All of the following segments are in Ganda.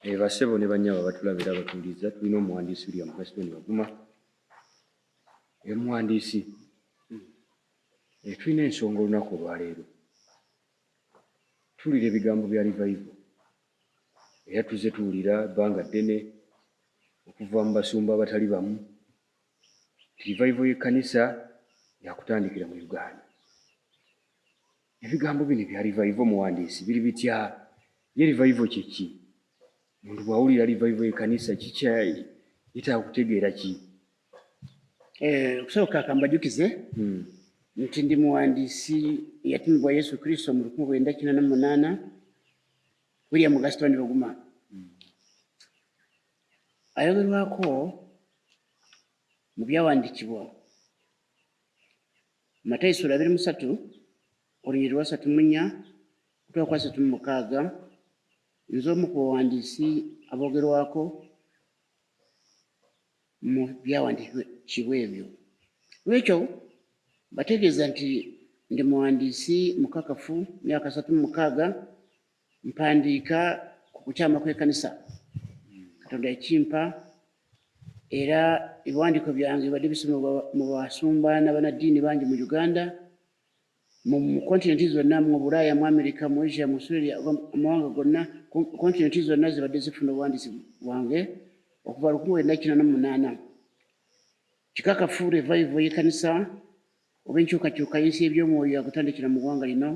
Eh, basebo ne banyabo batulabira batuuliza tulina omuwandiisi william gaston baguma emuwandiisi eh, tulina ensonga olunaku olwaleero tuwulira ebigambo bya rivaivo era tuzze tuwulira ebbanga ddene okuva mu basumba abatali bamu rivaivo y'ekkanisa yakutandikira mu uganda Ebigambo bino ebya livayivo muwandiisi biri bitya? Ye livayivo kye ki? Omuntu bw'awulira livayivo y'ekkanisa kikya yetaaga kutegeera ki? Eh, okusooka kambajukize hmm. nti ndi muwandiisi eyatumibwa Yesu Kristo mu lukumi lwenda kina na munaana William Gaston Luguma hmm. ayogerwako mu byawandiikibwa Matayo sura abiri musatu olunyiri lwasatu munya kutwa kwasatu mumukaaga nze omu ku bawandiisi abogerwako mu byawandiikibwa ebyo lwekyo bategeeza nti ndi muwandiisi mukakafu myaka satu mumukaaga mpandiika ku kukyama kw'ekanisa katonda ekimpa era ebiwandiiko byange bibadde bisomebwa mu basumba n'abanaddiini bangi mu uganda mu kontinenti zonna mu bulaaya mu amerika mu asia mu australia amawanga gonna kontinenti zonna zibadde zifuna obuwandiisi bwange okuva lukumi wenda kina nomunaana kikakafu revive yekanisa oba enkyukakyuka y'ensi y'eby'omwoyo yakutandikira mu ggwanga lino,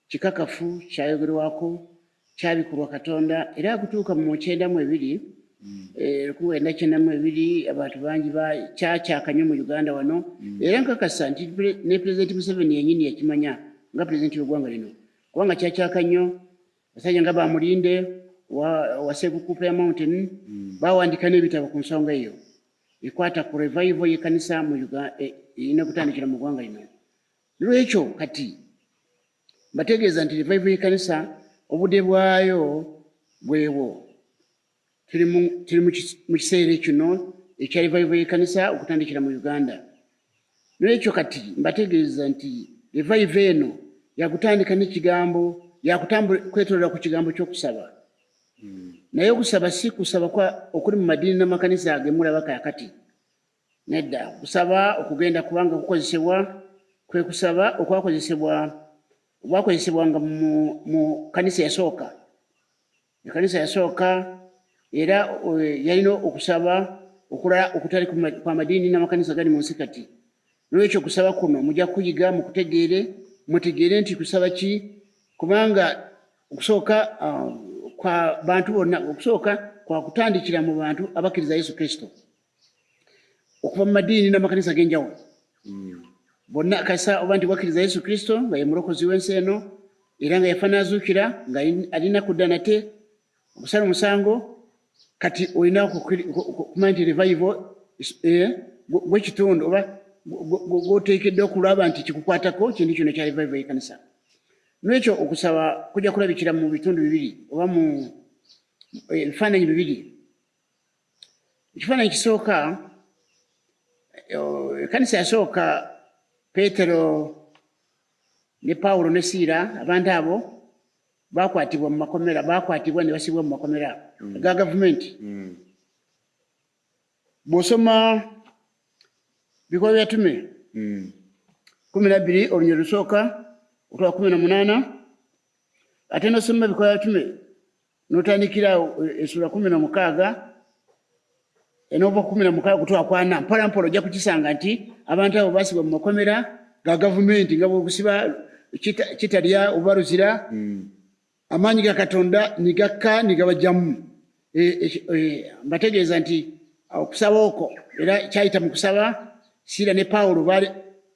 kikakafu, kyayogerwako, kyabikulwa Katonda, era akutuuka mu kyenda mu ebiri mm. eh, lwenda kyenda mu ebiri abantu bangi kyakyaka nnyo mu Uganda wano, mm. era nkakasa nti ne Pulezidenti Museveni yennyini yakimanya nga Pulezidenti w'eggwanga lino, kubanga kyakyaka nnyo basajja nga bamulinde wa, wa Sekukupe ya Mountain mm. bawandika n'ebitabo ku nsonga eyo. ekwata ku revival yekanisa mu e, erina kutandikira mu gwanga lino lwekyo kati mbategeeza nti revival yekanisa obude bwayo bwewo tuli mu kiseera kino ekya revival yekanisa okutandikira mu uganda N'olwekyo kati mbategeeza nti revive eno yakutandika n'ekigambo yakutambula kwetolera ku kigambo ky'okusaba hmm. naye okusaba si kusaba kwa okuli mu madiini n'amakanisa agemulaba kakati nedda kusaba okugenda kubanga kukozesebwa kwe kusaba okwakozesebwa obwakozesebwanga mu kanisa yasooka Ekanisa yasooka era eh, yalina okusaba okulala okutali kwa madiini n'amakanisa gali mu nsi kati. N'olwekyo okusaba kuno mujja kuyiga mu kutegeere, mutegeere nti kusaba ki, kubanga okusooka ah, kwa bantu bonna, okusooka kwa kutandikira mu bantu abakkiriza Yesu Kristo. okuva mu madiini n'amakanisa ag'enjawulo hmm. bonna kasa oba nti wakkiriza yesu kristo nga ye mulokozi w'ensi eno era nga yafa n'azuukira nga alina kudda nate okusala omusango kati olina okumanya nti revival eh, gwekitundu oba gwoteekeddwa okulaba nti kikukwatako kintu kino kya revival y'ekanisa n'ekyo okusaba kujja kulabikira mu bitundu bibiri oba mu eh, ebifaananyi bibiri ekifaananyi ekisooka ekanisa yasooka peetero ne pawulo ne siira abantu abo bakwatibwa mu makomera bakwatibwa ne basibwa mu makomera mm. ga gavumenti mm. bw'osoma bikolwa byatume mm. kumi nabbiri olunyiro lusooka otwa kumi na munaana ate nosoma bikolwa byatume notandikira esula kumi na mukaaga enova kumi na mukaaga kutwakwana mpola mpola ojja kukisanga nti abantu abo basibwa mu makomera ga gavumenti nga bwebusiba kitalya oba luzira hmm. amaanyi ga katonda nigakka nigabajjamu e, e, e, mbategeeza nti okusaba okwo era kyayita mu kusaba siira ne pawulo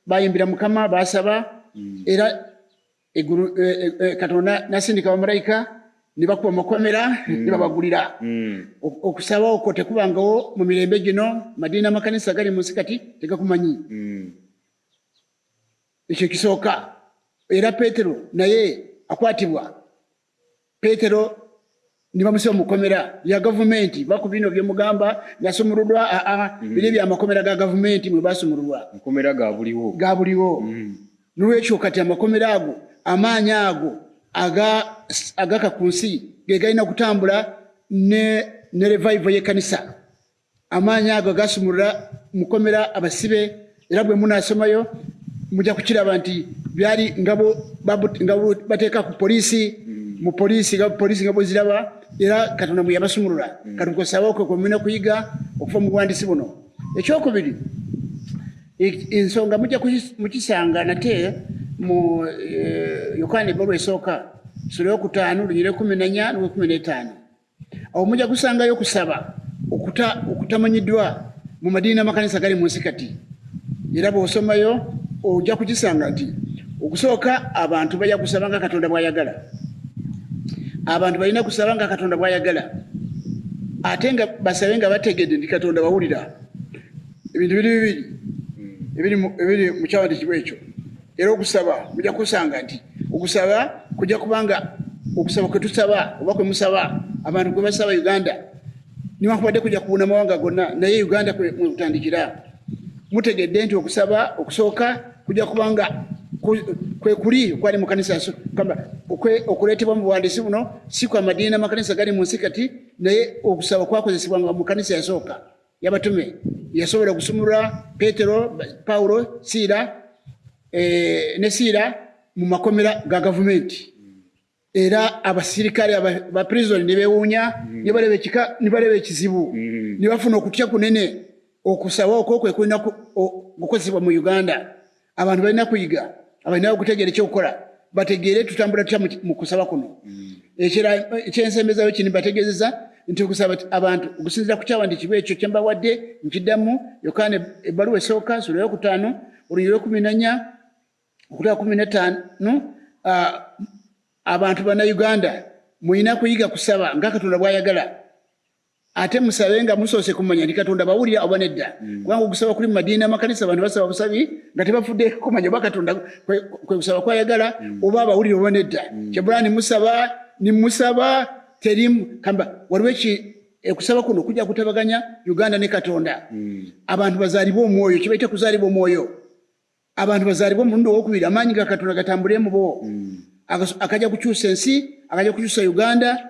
bayimbira mukama basaba hmm. era Egulu e, e, e, Katonda nasindika bamalaika ne bakuba makomera mm. ne babagulira mm. okusaba okwo tekubangawo mu mirembe gino madiina amakanisa gali mu nsi kati tegakumanyi mm. ekyo kisooka era petero naye akwatibwa Petero nibamusiba mukomera ya gavumenti bakubino byemugamba nasumululwa aa ah, ah, mm. biri byamakomera ga gavumenti mwebasumululwa makomera gabuliwo gabuliwo mm. nolwekyo kati amakomera ago amaanyi ago agaka ku nsi gegalina kutambula ne revival yekanisa amaanyi ago gasumulula mukomera abasibe era bwe munaasomayo mujja kukiraba nti byali nga bateeka ku poliisi mu poliisi nga poliisi nga bweziraba era katonda mwe yabasumulula mm. kati nkosabe okwe kwemulina kuyiga okuva mu buwandiisi buno ekyokubiri e, ensonga mujja mukisanga nate mu e, yokaana ebbalu esooka sula yokutaano lunyira ekumi nanya nokumi n'etaano awo mujja kusangayo okusaba okutamanyiddwa mu madiini n'amakanisa gali mu nsi kati era bw'osomayo ojja kukisanga nti okusooka abantu bajja kusaba nga katonda bw'ayagala abantu balina kusaba nga katonda bw'ayagala ate nga basabe nga bategedde nti katonda bawulira ebintu biri bibiri ebiri mu kyawandikibwa ekyo era okusaba muja kusanga nti okusaba kuja kubanga okusaba kwetusaba oba kwemusaba abantu kwebasaba uganda niwankubadde kuja kubuna mawanga gonna naye uganda kwekutandikira mutegedde nti okusaba okusooka kuja kubanga kwekuli okwali mukanisa okuleetebwa mu buwandiisi buno si kwa madiini n'amakanisa gali mu nsi kati naye okusaba kwakozesebwanga mu kanisa yasooka yabatume yasobola okusumulula petero pawulo siira eh, ne siira mu makomera ga gavumenti era abasirikale ba prison ne bewuunya mm. ne baleba ekizibu mm. ne bafuna okutya kunene okusaba okwo kwe kulina okukozesebwa mu uganda abantu balina kuyiga abalina okutegeera ekyokukola bategeere tutambula tutya mu kusaba kuno mm. ekyensembezayo kini bategezeza nti okusaba abantu okusinzira ku kyawandiikibwa ekyo kyembawadde nkiddamu yokaana ebbaluwa esooka sula yokutaano olunyiri lwekumi nanya okutaka kumi netaano abantu banauganda mulina kuyiga kusaba nga katonda bwayagala ate musabe nga musoose kumanya ndi katonda bawulira oba nedda mm. kubanga okusaba kuli mumadiina amakanisa abantu basaba busabi nga tebafudde kumanya oba katonda kwekusaba kwayagala mm. oba abawulira oba nedda mm. kyebula nimusaba nimusaba terimu kamba waliwo eki ekusaba kuno kujja kutabaganya uganda ne katonda abantu bazaalibwa omwoyo kibaite kuzaalibwa omwoyo abantu bazaalibwa omulundi owokubiri amaanyi ga katonda gatambulemu bo akaja kukyusa ensi akaja kukyusa uganda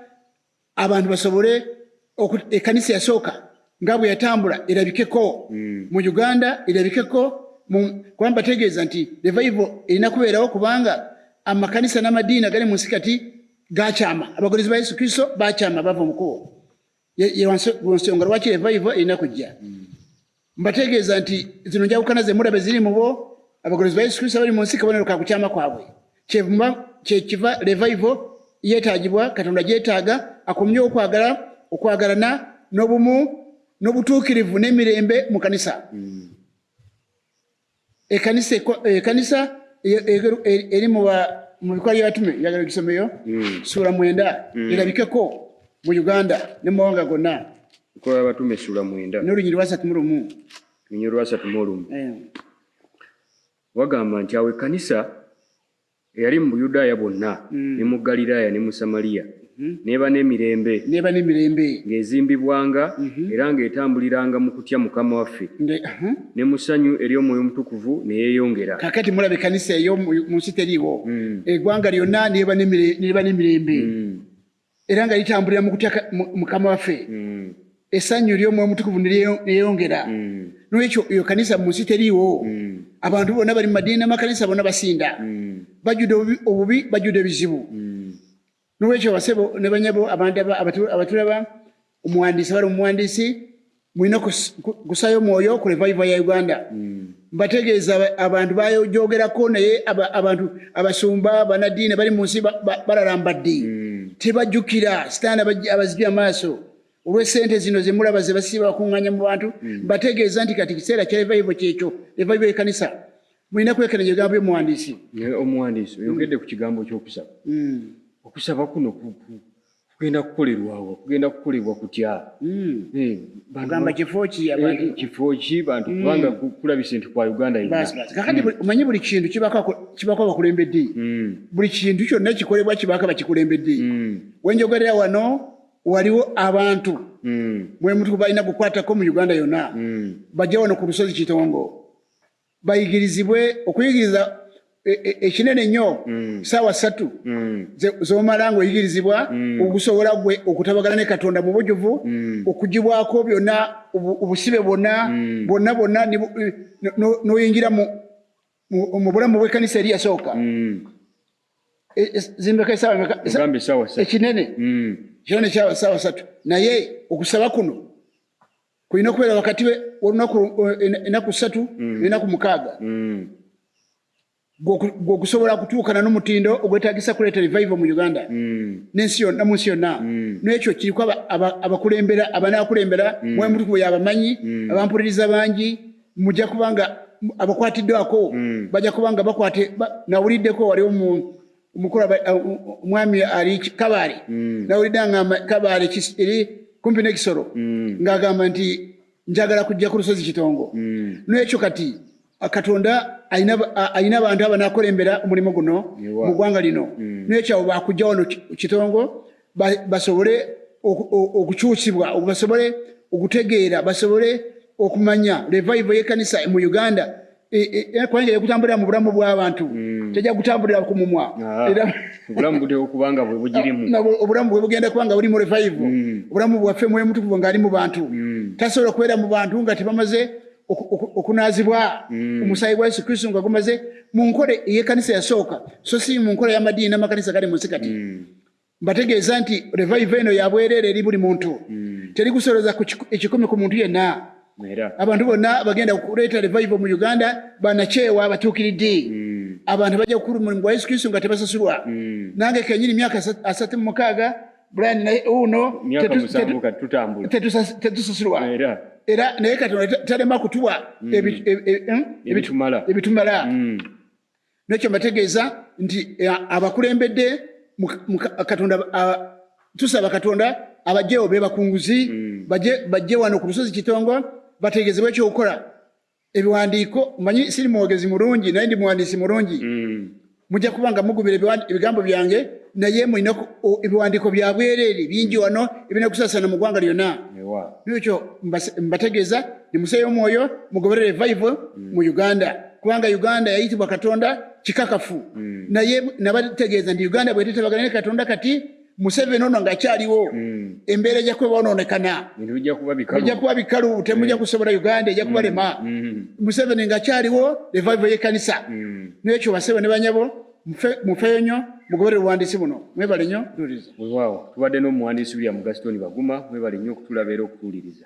abantu basobole ekanisa yasooka nga bwe yatambula erabikeko mm. mu uganda erabikeko kuba mbategeeza nti revival erina kubeerawo kubanga amakanisa n'amadiini agali mu nsi kati gakyama abagozi ba yesu kristo bakyama bava mukubo yewonsonga lwaki revival erina kujja mm. Mbategeeza nti zino njawukana ze muraba eziri mu bo abagolozi ba Yesu Kristo abali mu nsi kabonero ka kukyama kwabwe. Kyevuma kyekiva revival yeetaagibwa, Katonda gyetaaga akomye okwagala, okwagalana n'obumu n'obutuukirivu n'emirembe mu kanisa. Mm. ekanisa ekanisa eri mu bikolwa by'abatume njagala ogisomeyo hmm. suula mwenda hmm. erabikeko mu uganda ne mu mawanga gonna bikolwa by'abatume suula mwenda n'olunyiri lwasatu mu lumu olunyiri lwasatu mu olumu eh. wagamba nti awo ekanisa Eyali mu Buyudaaya bwonna, ne mu Ggaliraaya ne mu Samaliya, n'eba n'emirembe, n'eba n'emirembe, ng'ezimbibwanga, era ng'etambuliranga mu kutya Mukama waffe, nge, aha, ne mu ssanyu ery'Omwoyo Omutukuvu, ne yeeyongera. Kaakati mulaba, ekkanisa eyo mu nsi teriiwo, eggwanga lyonna, n'eba n'emire, n'eba n'emirembe. era nga litambulira mu kutya mukama waffe mm. esannyu ery'omwoyo mutukuvu neyongera mm. nolwekyo eyo kanisa mu nsi teriiwo mm. abantu bonna bali mu madiini n'amakanisa bonna basinda bajjude obubi bajjude ebizibu nolwekyo abasebo ne banyabo abantu abatulaba omuwandiisi abali omuwandiisi mulina kusayo mwoyo ku revival ya uganda hmm. mbategeeza abantu bayojogerako naye abantu abasumba banadiini bali munsi balalambaddi hmm. tebajukira sitaani abazibye amaaso olwesente zino zemulaba zebasiba bakunganya mu bantu hmm. mbategeeza nti kati kiseera kya revival kyekyo revival ekanisa mulina kwekenenya ebigambo byomuwandiisi omuwandiisi oyogedde ku kigambo kyokusaba okusaba kuno kugenda kukolerwawo kugenda kukolebwa kutya hmm. eh, ogamba kifo ki eh, abantu kifo ki bantu hmm. kubanga kulabise nti kwa uganda kakati hmm. omanyi buli kintu kibako abakulembedde buli kintu kyonna ekikolebwa kibako abakikulembedde wenjogerera wano waliwo abantu mwemutu balina kukwatako mu uganda yonna bajja wano ku lusozi kitongo bayigirizibwe okuyigiriza e, e, ekinene nnyo mm. saawa ssatu mm. zomala nga oyigirizibwa mm. okusobola gwe okutabagala ne katonda mu bujuvu okugibwako byonna obusibe bwonna bwonna bwonna n'oyingira mu bulamu bw'ekkanisa eri yasooka e, zimbeka ekinene kinene saawa ssatu naye okusaba kuno kulina okubeera wakati wolunaku enaku satu mm. nenaku mukaaga mm. gwokusobola kutuukana n'omutindo ogwetagisa kuleeta revival mu uganda mm. nensi yonna munsi yonna nekyo kiriko abakulembera abanakulembera mwemutukubo yabamanyi abampuliriza bangi mujja kubanga abakwatiddwako bajja kubanga bakwate nawuliddeko waliwo mu mukulu omwami ali kabaale mm. nawulidde agamba kabaale eri kumpi n'ekisoro mm. ng'agamba nti njagala kujja ku lusozi kitongo mm. n'ekyo kati katonda alina abantu abanakulembera omulimu guno mu ggwanga lino n'ekyo abo bakujja wano kitongo basobole okukyusibwa basobole okutegeera basobole okumanya revival y'ekkanisa mu uganda e, e, e, kubanga yagutambulira mu bulamu bw'abantu hmm. tejja gutambulira ku mumwa ah, obulamu bwe bugenda kuba nga buli mu revive hmm. obulamu bwaffe mwoyo mutukuvu ng'ali mu bantu hmm. tasobola kubeera mu bantu nga tebamaze okunaazibwa omusaayi gwa yesu kristo nga gumaze mu nkola ey'ekanisa yasooka so si mu nkola y'amadiini n'amakanisa gali mu nsi kati Mbategeeza nti revive eno ya bwereere eri buli muntu, hmm. teri kusolooza ku ekikumi ku muntu yenna. Abantu bonna bagenda kuleeta revive mu Uganda banakyewa abatuukiridde. Hmm. Abantu bajja kukulu mulimu gwa Yesu Kristo nga tebasasulwa. Hmm. Nange kenyini myaka asatu mu mukaaga Brian naye uno tetusasulwa era naye Katonda talema kutuwa ebitumala. nekyo mbategeeza nti eh, abakulembedde katonda tusaba katonda abajjewo bebakunguzi mm. bajje wano ku lusozi kitongo bategezebwa ekyokukola ebiwandiiko manyi siri mwogezi mulungi naye ndi muwandiisi mulungi mm. mujja kuba nga mugumira ebigambo byange naye mulina ebiwandiiko byabwereere bingi wano ebirina kusasana mu ggwanga lyonna nekyo mbategeeza nimuseeyo omwoyo mugoberere evival mm. mu uganda kubanga uganda yayitibwa katonda kikakafu mm. naye nabategeeza nti uganda bwetetabagana ne katonda kati museveni ono ngakyaliwo mm. embeera ejja kuba bonoonekana ejja kuba bikalu temujja eh. kusobola uganda ejja kubalema museveni ngakyaliwo evival yekanisa nekyo basebo ne banyabo mufeyo nyo mugobere buwandiisi buno mwebale nyo wewaawo tubadde n'omuwandiisi william gasitoni baguma mwebale nyo okutulabeera okutuwuliriza